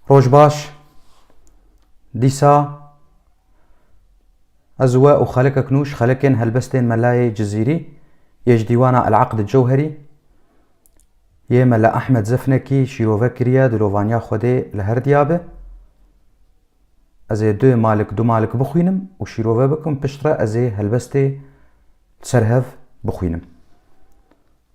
Roj baş. Dîsa ez we û xelekek nû ji xelekên helbestên Melayê Cizîrî yê ji dîwana El Aqd Cewherî yê Mela Ehmed Zefnekî şîrove kiriye dilovaniya Xwedê li her diya be. Ez ê du malik du malik bixwînim û şîrove bikim pişt re ez ê helbestê li ser hev bixwînim.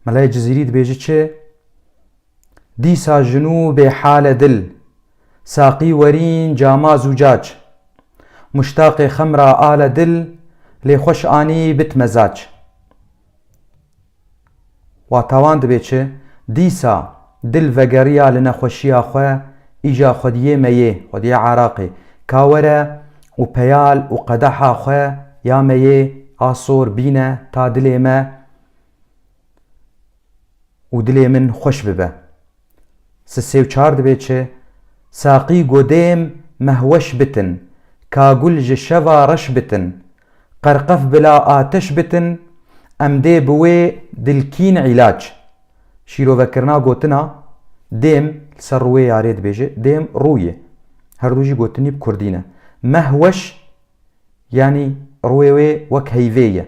Melayê Cizîrî dibêje çi? Dîsa jinû bê hale dil. Saqî werîn cama zûcac. Muştaqê xemra ale dil lê xweş anî bit mezac. Wata wan dibê çi? Dîsa dil vegeriya li nexweşiya xwe îja xwediyê meyê, xwediyê Araqê, ka were û peyal û qedeha xwe ya meyê a sor bîne ta dilê me, û dilê min xweş bibe. Si sê û çar dibe çi? Saqî godêm mehweş bitin, kagul ji şeva reş bitin, qerqef bila ateş bitin, em dê bi wê dilkîn îlac. Şîrovekirina gotina dêm li ser rûyê ya rê dibêje, dêm rû ye. Her du jî gotinî bi kurdî ne. Mehweş yanî rûyê wê wek heyvê ye.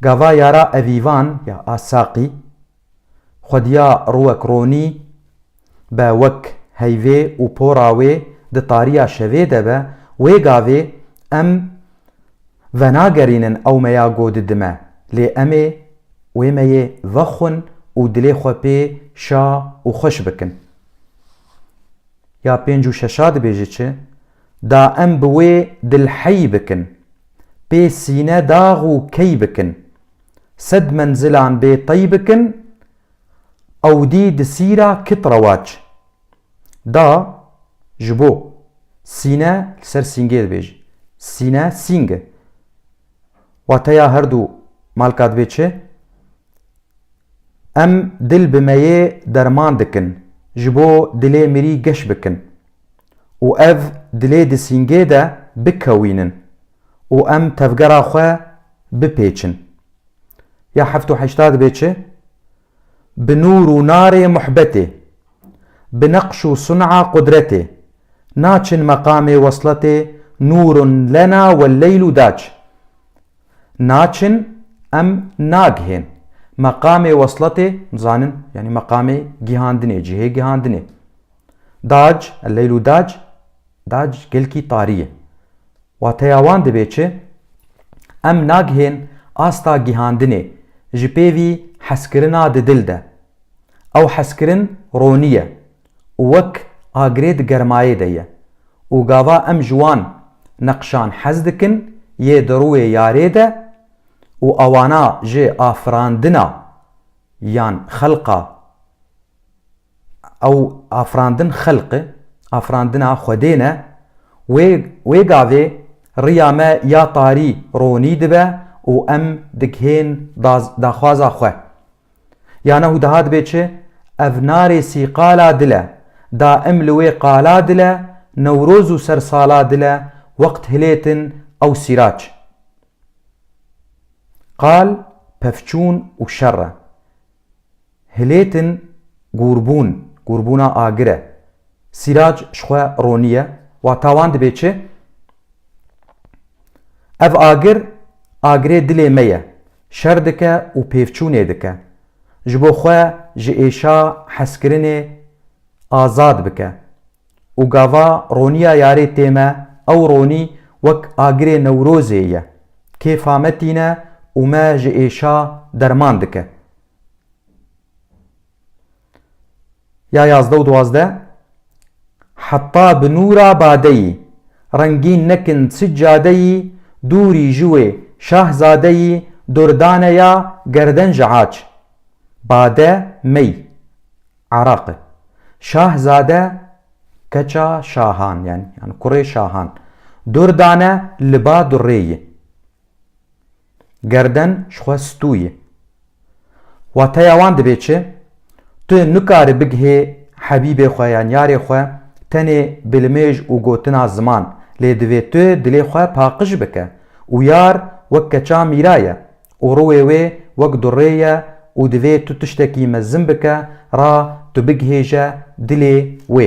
Gava yara evîvan ya a saqî, xwediya rûwek ronî be wek heyvê û pora wê di tariya şevê de be, wê gavê em venagerînin ew meya go didime, lê em ê wê meyê vexwin û dilê xwe pê şa û xweş bikin. Ya pênc û şeşa dibêje çi? Da em bi wê dil hey bikin. Pê sîne dax û key bikin. Sed menzilan bê tey bikin. Ewdî di sîra kit rewac. Da ji bo sîne li ser sîngê dibêjin. Sîne sîng e. Wateya her du malka dibê çi? Em dil bi meyê derman dikin. Ji bo dilê mirî geş bikin. û ev dilê di sîngê de bikewînin û em tevgera xwe bipêçin. Ya heft û heşta dibe çi? Bi nûr û narê muhbetê, bi neqş û sun'a qudretê, naçin meqamê wesletê nûrun lena welleylu dac. Naçin em nagihên meqamê wesletê, dizanin, yanî meqamê gihandinê, cihê gihandinê. Dac, El-Leyl û Dac, Dac gilkî tarî ye. Wateya wan dibê çi? Em nagihên asta gihandinê ji pêvî hezkirina di dil de. Ew hezkirin ronî ye û wek agirê di germayê de ye û gava em ji wan neqşan hez dikin yê di rûê yarê de û awana ji afirandina yan xelqa Ew afirandin xelq e, afirandina Xwedê ne. Wê wê gavê riya me ya tarî ronî dibe û em digihên da daxwaza xwe. Ya nehu daha dibe çi? Ev narêsî qala dil e. Da em li wê qala dil e, Newroz û ser sala dil e, wext hilêtin ew sîraç. Qal pevçûn û şer e. Hilêtin gûrbûn, gûrbûna agir e. Sîrac ji xwe roniye, wata wan dibê çi? Ev agir, agirê dilê me ye. Şer dike û pêvçûnê dike. Ji bo xwe ji êşa hezkirinê azad bike. Û gava roniya yarê tê me, ew ronî wek agirê Newrozê ye. Kêfa me tîne û me ji êşa derman dike. Ya yazdeh û duwazdeh Heta bi nûra badeyî Rengîn nekin çi cadeyî Dûrî ji wê şahzadeyî Durdane ya gerden ji aç Bade mey Araq e Şahzade keça şahan yanî kurê şahan Durdane li ba durrê ye. Gerden ji xwe stû ye. Wateya wan dibê çi? Tu nikare bigihê hebîbê xwe yan yarê xwe tenê bi limêj û gotina ziman, lê divê tu dilê xwe paqij bike û yar wek keça mîra ye û ruwê wê wek durrê ye û divê tu tiştekî mezin bike ra tu bigihêje dilê wê.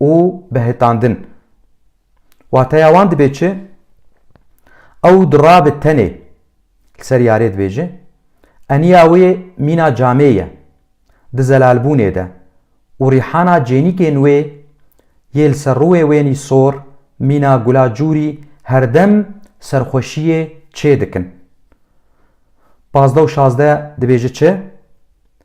û behitandin. Wateya wan dibê çi? Ew dirabe tenê li ser yarê dibêje, eniya wê mîna camê ye, di zelalbûnê de û rîhana cênîkên wê yê li ser rûwê wênî sor, mîna gula cûrî herdem serxweşiyê çê dikin. Pazdeh û şazdeh dibêje çi?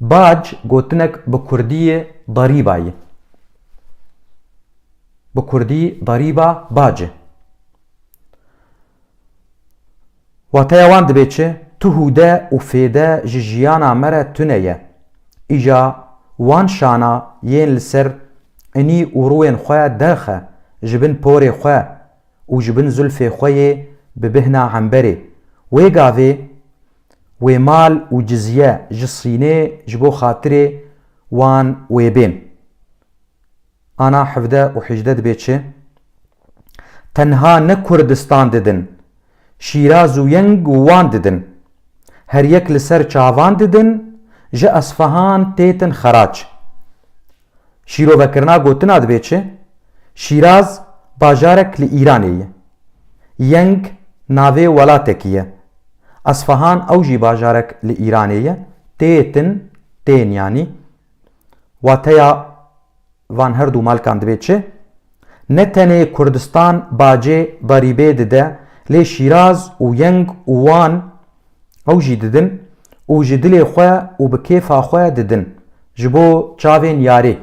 Bac gotinek bi kurdiyê darîba ye. Bi kurdî darîba bac e. Wateya wan dibê çi? Tu hûde û fêde ji jiyana me re tune ye. Îja wan şana yên li ser inî û rûyên xwe derxe ji bin porê xwe û ji bin zulfê xwe yê bi bihna hemberê. Wê gavê wê mal û cizye ji Sînê ji bo xatirê wan wê bên. Ana hevde û hîjde dibê çi? Tenha ne Kurdistan didin, Şîraz û Yeng û Wan didin. Her yek li ser çavan didin, ji Esfehan têtin xeraç. Şîrovekirina gotina divê çi? Şîraz bajarek li Îranê ye. Yeng navê welatekî ye. Esfahan ew jî bajarek li Îranê ye, têyê tin, tên yanî. Wateya van her du malkan divê çi? Ne tenê Kurdistan bacê berîbê dide lê Şîraz û Yeng û Wan Ew jî didin û ji dilê xwe û bi kêfa xwe didin, ji bo çavên yarê.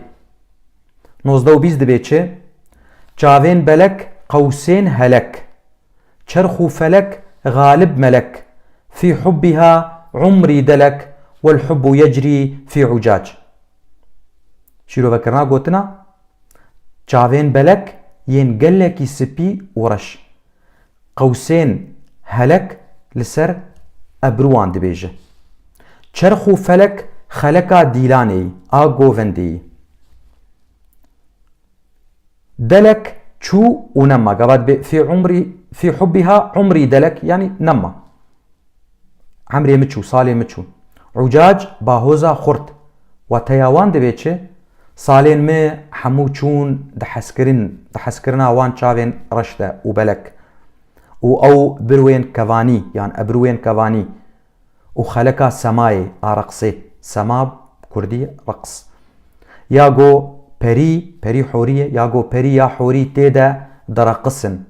Nozdeh û bîst dibê çi? Çavên belek qewsên helek. Çerx û felek galib melek, fî hubbîha umrî delek wel hubbu yecrî fî ucac. Şîrovekirina gotina, Çavên belek yên gelekî sipî û reş. qewsên helek li ser ebruwan dibêje. Çerx û felek xeleka dîlanê yî a govendê yî. Delek çû û nema, gavat bê fî umrî fî hubbiha umrî delek yanî nema. Emrê min çû, salê min çû. Ucac ba hoza xurt. Wateya wan divê çi? Salên min hemû çûn di hezkirin, di hezkirina wan çavên reş de û belek. Û ew birwên kevanî yan ebrûyên kevanî û xeleka semayê a reqsê, sema bi kurdî reqs. Ya go perî, perî horî ye, ya go perî ya horî tê de direqisin.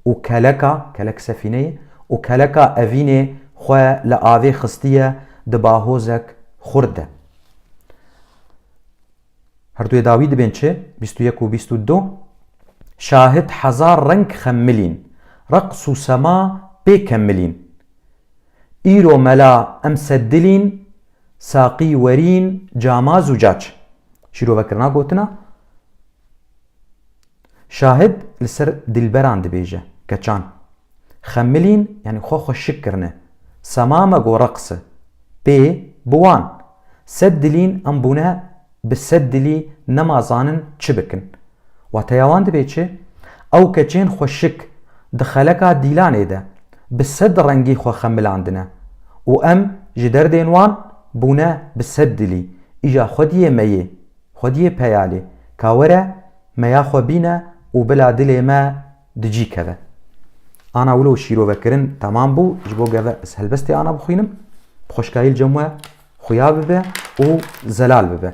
û keleka, kelek sefîne ye, û keleka evînê xwe li avê xistiye di bahozek xurt de. Her du yê dawî dibên çi? Bîst û yek û bîst û du. Şahit hezar reng xemmilîn, reqs û sema pê kemmilîn. Îro mela em sed dilîn, saqî werîn cama zûcac. Şîrove kirina gotina. Şahid li ser dîlberan dibêje, Keçan. Xemilîn yanî xwe xwe şik kirine. Sema me gore qise. Pê, bi wan. Sed dilîn em bûne bi sed dilî nema zanin çi bikin. Wateya wan dibê çi? Ew keçên xwe şik, di xeleka dîlanê de, bi sed rengî xwe xemilandine. Û em, ji derdên wan, bûne bi sed dilî, îja xwediyê me yê. Xwediyê peyalê, ka were meya xwe bîne û bila dilê me di cî keve. Ana wilo şîrovekirin temam bû, ji bo geve ez helbestê ana bixwînim, bi xweşkayî li cem we xuya bibe û zelal bibe.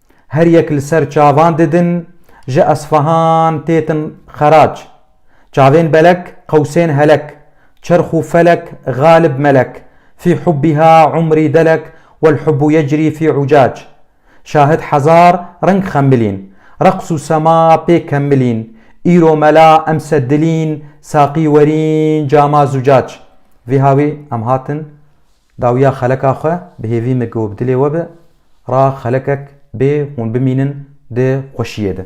Her yek li ser çavan didin, ji Esfahan têtin xerac. Çavên belek, qewsên helek, çerx û felek, galib melek, fî hubbiha umrî delek, wel hubbu yecrî fî ucac. Şahid hezar reng xemilîn, reqs û sema pê kemilîn, îro mela emse dilîn, saqî werîn cama zucac. Vîha wî em hatin. Dawiya xeleka xwe bi hêvî min ku bi dilê we be, ra xelekek bê hûn bimînin di xweşiyê de.